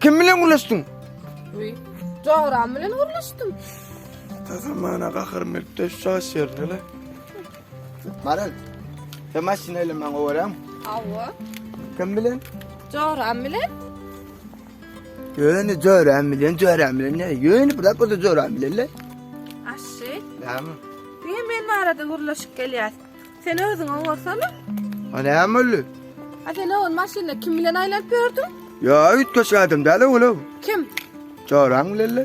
Kim bilen gürleşdiň? Uý, Joram bilen gürleşdim. Tazamana gaharym gelip de şaş ýerine le. Maral, sen maşyna ile maňa gowaram. Hawa. Kim bilen? Joram bilen. Ýöne Joram bilen, Joram bilen ne? Ýöne bir dakika Joram bilen le. Aşşy. Näme? Diýe men arada gürleşip gelýär. Sen özüň owarsana. A näme boldy? A sen owan maşynda kim bilen aýlanyp ýördüň? Ýa üýtgeşik adam däl-ow ol. Kim? Joraň bilen-le.